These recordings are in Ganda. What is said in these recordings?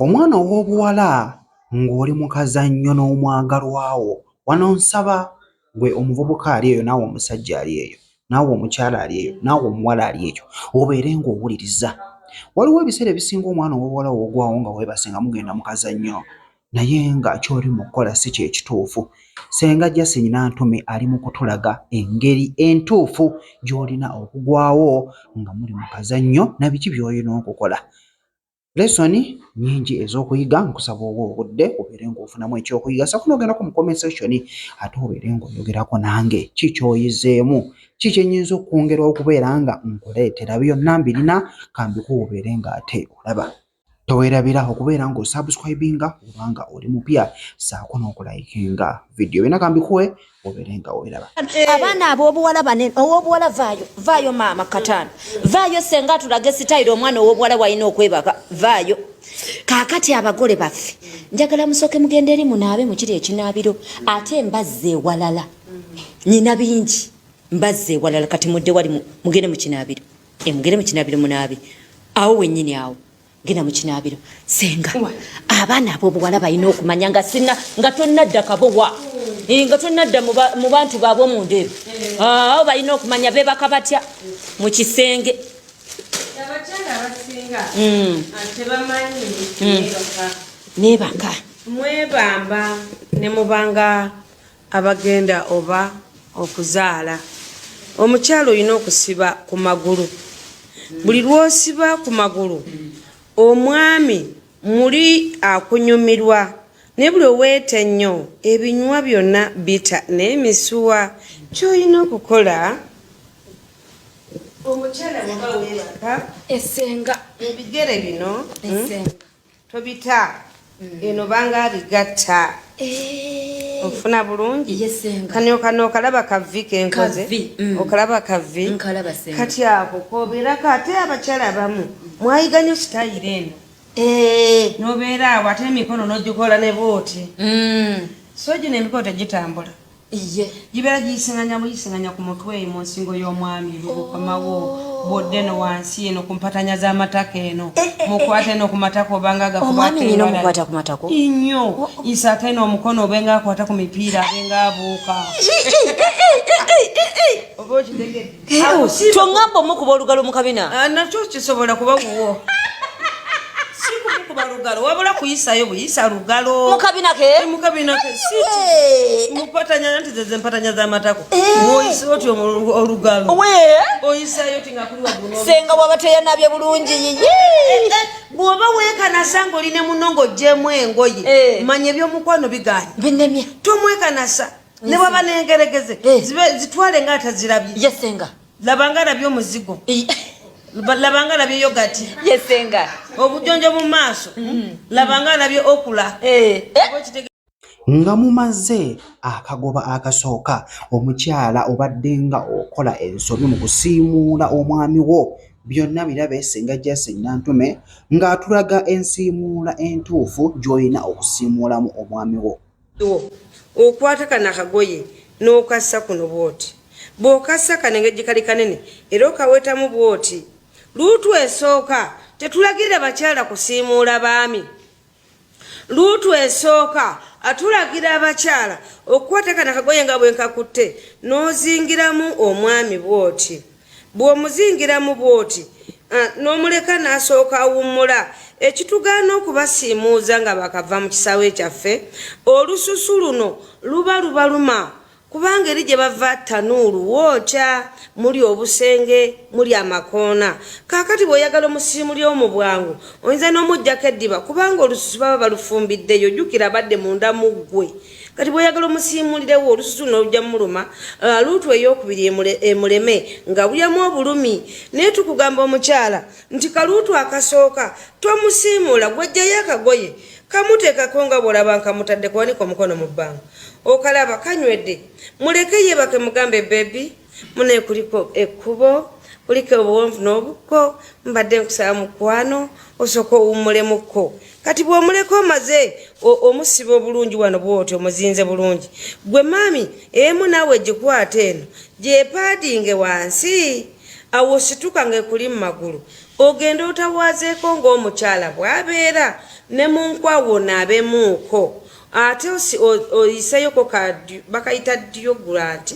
Omwana ow'obuwala ng'oli mu kazannyo n'omwagalwa wo, wano nsaba gwe omuvubuka ali eyo naawe omusajja ali eyo naawe omukyala ali eyo naawe omuwala ali eyo obeere ng'owuliriza. Waliwo ebiseera ebisinga omwana ow'obuwala w'ogwawo nga weebase nga mugenda mu kazannyo naye nga ky'oli mu kukola si kye kituufu. Ssenga Justin Nantume ali mu kutulaga engeri entuufu gy'olina okugwawo nga muli mu kazannyo na biki by'olina okukola. lesson nyingi ez'okuyiga nkusaba oba obudde obeere ng'ofunamu ekyokuyiga sako n'ogendako mu comment section ate obeere ng'oyogerako nange ki kyoyizeemu ki kyenyinza okwongera okubeera nga nkuleetera byonna mbirina kambikuwa obeere ng'ate olaba tewerabira okubeera nga osubscribinga obanga oli mupya saako n'okulayikinga vidiyo byona kambikuwe obere nga weraba eh. abaana ab'obuwala banene ow'obuwala vaayo vaayo maama kataano vaayo senga atulage sitayiro omwana ow'obuwala walina okwebaka vaayo kaakati abagole baffe njagala musooke mugenda eri munaabe mukiri ekinaabiro ate mbazza ewalala nyina bingi mbazza ewalala kati mudde wali mugende mu kinaabiro emugende eh, mu kinaabiro munaabe awo wennyini awo genda mu kinaabiro senga abaana ab'obuwala balina okumanya nga sina nga tonnadda kabowa eh, nga tonnadda mu bantu baabwe omunda ebyo eh. ah, awo balina okumanya beebaka batya mu kisenge hmm. hmm. nebaka mwebamba nemubanga abagenda oba okuzaala omukyala olina okusiba ku magulu buli lwosiba ku magulu omwami muli akunyumirwa naye buli oweeta ennyo ebinywa byonna bita naye misuwa kyolina okukola omukyala waba webaka esenga ebigere bino hmm? esenga tobita mm. eno banga bigatta eh. ofuna bulungi kanokanookalaba kavi kenkoze mm. okalaba kavi kati ako kobeerako ate abakyala bamu mwayiganyo sitayiro eno eh. nobeera awo ate emikono nogikola ne booti mm. so gino emikono tegitambula iye gibeera giyisinganya buyisinganya ku mutwe mu nsingo y'omwami lukomawo oh. bwodde no wansi eno ku mpatanya z'amatako eno eh, eh, eh, mukwata eno ku matako obanga gakwata ku matako inyo oh, oh. isaaka eno omukono obenga akwata ku mipiira abenga abuuka oba okitegedde kyongamba omu kuba olugalo mu kabina ah, nakyo kisobola kuba wuwo kuba lugalo wabula kuyisayo buyisa lugalo mukabina ke eh, mukabina ke si eh. mupatanya nanti zeze mpatanya za matako eh. woyisa oti olugalo we oyisayo tinga kuli wabuno senga wabateya nabye bulungi yiyi bwoba wekanasa nga oli ne munongo jemu engoye manya ebyomukwano biganye binemye tomwekanasa ne baba nengeregeze eh. zibe zitwale nga atazirabye yesenga labanga nabyo muzigo labanga nabyo yogati yesenga obujonjo mu maaso mm. labanga nabyo okula eh. Eh. nga mumaze akagoba akasooka omukyala obadde nga okola ensobi mu kusiimuula omwami wo byonna birabe singa jasin nantume ng'atulaga ensiimuula entuufu gy'olina okusiimuulamu omwami wo okwata kana kagoye n'okassa kuno bwoti bw'okassa kano engeri gikali kanene era okawetamu bwoti luutu esooka tetulagirira bakyala kusiimuula baami luutu esooka atulagira abakyala okukwata kana kagoye nga bwenkakutte n'ozingiramu omwami bwoti bw'omuzingiramu bw'oti ah, n'omuleka n'asooka awummula ekitugaana okubasiimuuza nga bakava mu kisaawe kyaffe olususu luno luba lubaluma kubanga eri gye bava tanuulu wookya muli obusenge muli amakoona kaakati bw'oyagala omusiimuli omu bwangu oyinza n'omugyako eddiba kubanga olususu baba balufumbiddeyo jjukira abadde munda mu ggwe kati bwoyagala omusiimulirewo olususu nolujja muluma uh, luutu eyokubiri emuleme nga bulyamu obulumi naye tukugamba omukyala nti kaluutu akasooka tomusiimuula gwejjayo akagoye kamuteekako nga bwolaba nkamutadde kuwanika omukono mu bbanga okalaba kanywedde muleke yebake mugambe bebi mune kuliko ekkubo kuliko obuwonvu n'obukko mbadde nkusaba mukwano osooka owummulemukko kati bw'omuleka omaze omusiba obulungi wano bwoti omuzinze bulungi gwe maami emu naawe gikwata eno gyepaadinge wansi awo osituka ng'ekuli mu magulu ogenda otawaazeeko ng'omukyala bw'abeera ne mu nkwawo naabemuuko ate oyiseyoko bakayita ddiyo gulanti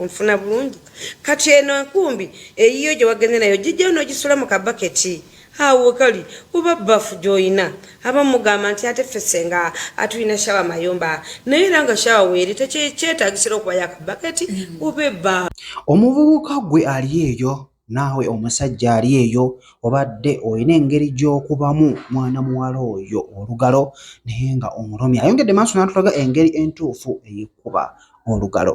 onfuna bulungi kati eno enkumbi eyiyo gye wagenze nayo gijjayo n'ogisula mu kabaketi awo kali oba bafu gy'olina aba mugamba nti ate fesenga atulina shawa mayumba naye era nga shawa weeri tekyetagisira okubayo akabaketi mm. oba ebba omuvubuka gwe ali eyo naawe omusajja ali eyo obadde olina engeri gy'okubamu mwana muwala oyo olugalo naye nga omulumi ayongedde maaso n'atulaga engeri entuufu ey'okukuba olugalo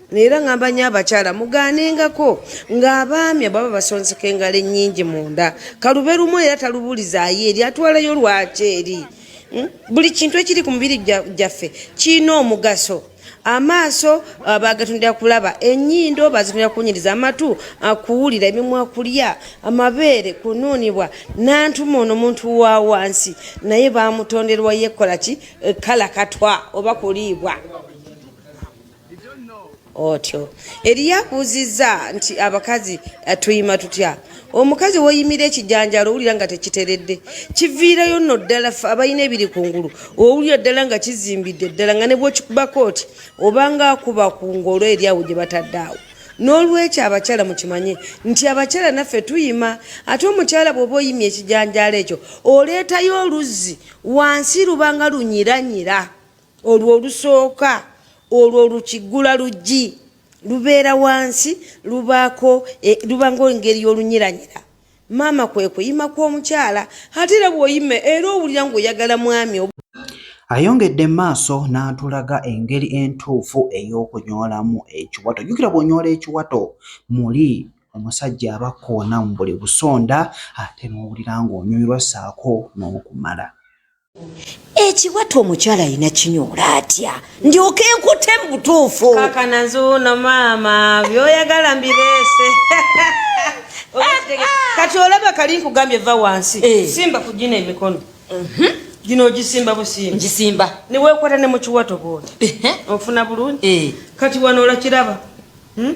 neera ngamba nyo abakyala mugaanengako ng'abaami ababa basonseka engalo ennyingi munda kalube lumu era talubulizaayo eri atwalayo lwaki eri hmm? buli kintu ekiri ku mubiri gyaffe kirina omugaso amaaso uh, bagatundira kulaba enyindo bazitundira kunyiriza amatu uh, kuwulira emimwa kulya amabeere kunuunibwa nantuma ono muntu wa wansi naye bamutonderwa yekolaki eh, kala katwa oba kuliibwa otyo eriyo akuuzizza nti abakazi eh, tuyima tutya omukazi woyimira ekijanjalo owulira nga tekiteredde kiviirayo nno ddala abalina ebiri ku ngulu owulira ddala nga kizimbidde ddala nga nebwokikubako oti obanga akuba ku ngolo eri awo gye batadde awo n'olwekyo abakyala mukimanye nti abakyala naffe tuyima ate omukyala bw'oba oyimye ekijanjalo ekyo oleetayo oluzzi wansi lubanga lunyiranyira olwo olusooka olwo olukiggula luggi lubeera wansi lubaako e, luba ngaengeri y'olunyiranyira maama kwe kuyima kw'omukyala ate era bw'oyima era owulira ng'oyagala mwami ayongedde maaso n'atulaga engeri entuufu ey'okunyoolamu ekiwato jjukira bw'onyoola ekiwato muli omusajja aba kkoona mu buli busonda ate n'owulira ng'onyumirwa ssaako n'okumala ekiwato omukyala alina kinyoola atya ndyoka enkute mu butuufu kakana nzuuno maama byoyagala mbireese kati olaba kali nkugambye va wansi eh. simba ku gino emikono mhm. gino ogisimba busimba ngisimba newekwata ne mu kiwato bwoti ofuna bulungi eh. kati wano olakiraba hmm?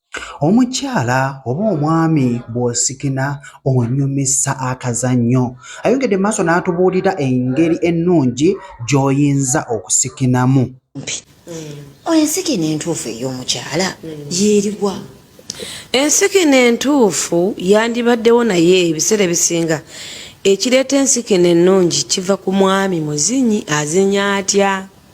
Omukyala oba omwami bw'osikina onyumisa akazannyo. Ayongedde mu maaso n'atubuulira engeri ennungi gy'oyinza okusikinamu. Hmm. Ensikina entuufu ey'omukyala hmm. yeeriwa? Ensikina entuufu yandibaddewo naye ebiseera ebisinga ekireeta ensikina ennungi kiva ku mwami muzinyi azinya atya.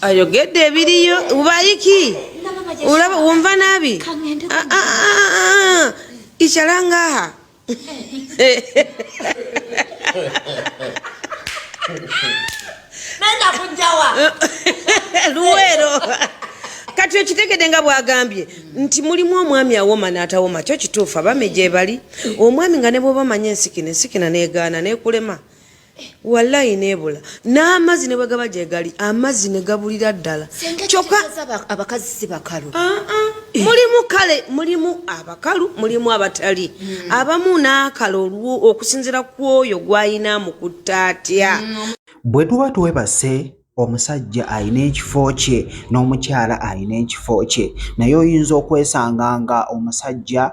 ayogedde ebiriyo ubayiki ulaba wumva nabi ah, ah, ah, ichalangaha luwero kati okitegede nga bwagambye nti mulimu omwami awoma natawoma kyo kituufu abami gyebali omwami nga nebwoba manya ensikina ensikina negaana nekulema walayi nebula n'amazzi ne bwe gaba gye gali amazzi ne gabulira ddala kyokka abakazi si bakalu ah, ah. Eh. mulimu kale mulimu abakalu mulimu abatali hmm. abamu n'akala olwo okusinzira ku oyo gw'alina mu kutta atya hmm. bwe tuba twebase omusajja alina ekifo kye n'omukyala alina ekifo kye naye oyinza okwesanga nga omusajja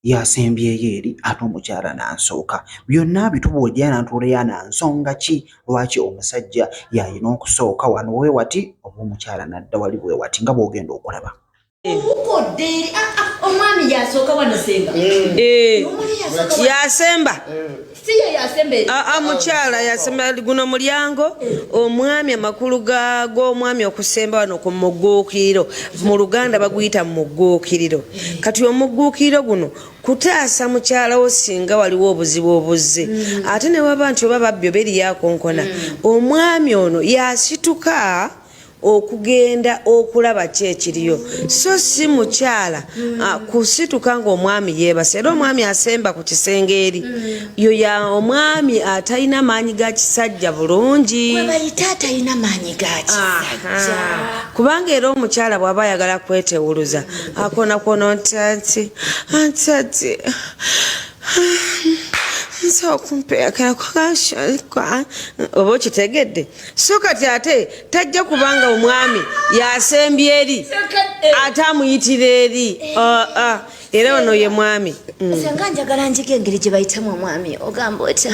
y'asembyeyo eri ate omukyala n'asooka. Byonna abitubuuja n'atuleya na nsonga ki lwaki omusajja y'alina okusooka wano we wati oba omukyala n'adda wali we wati nga bw'ogenda okulaba. Obukodde ah, ah, omwami y'asooka wano senga. Eh. Eh. Yasemba. Ah, ah, mukyala yasemba guno mulyango omwami amakulu g'omwami okusemba wano ku mugguukiriro mu luganda baguyita mu mugguukiriro kati omugguukiriro guno kutaasa mukyala wo singa waliwo obuzibu obuzze mm. ate ne waba nti oba babbi oba eriyakonkona mm. omwami ono yasituka okugenda okulaba ki ekiriyo so si mukyala mm. ah, kusituka ngaomwami yebasa era omwami asemba ku kisenge eri mm. yo ya omwami atalina maanyi ga kisajja bulungi kubanga era omukyala bwaba ayagala kwetewuluza akona kwono nti ati anti ati nsobola okumpeekera kukanshoka oba okitegedde so kati ate tajja kubanga omwami yasembye eri eh. ate amuyitira eri eh. ah, ah. era ono ye mwami mm. senga njagala njiga engeri gye bayitamu omwami ogamba otya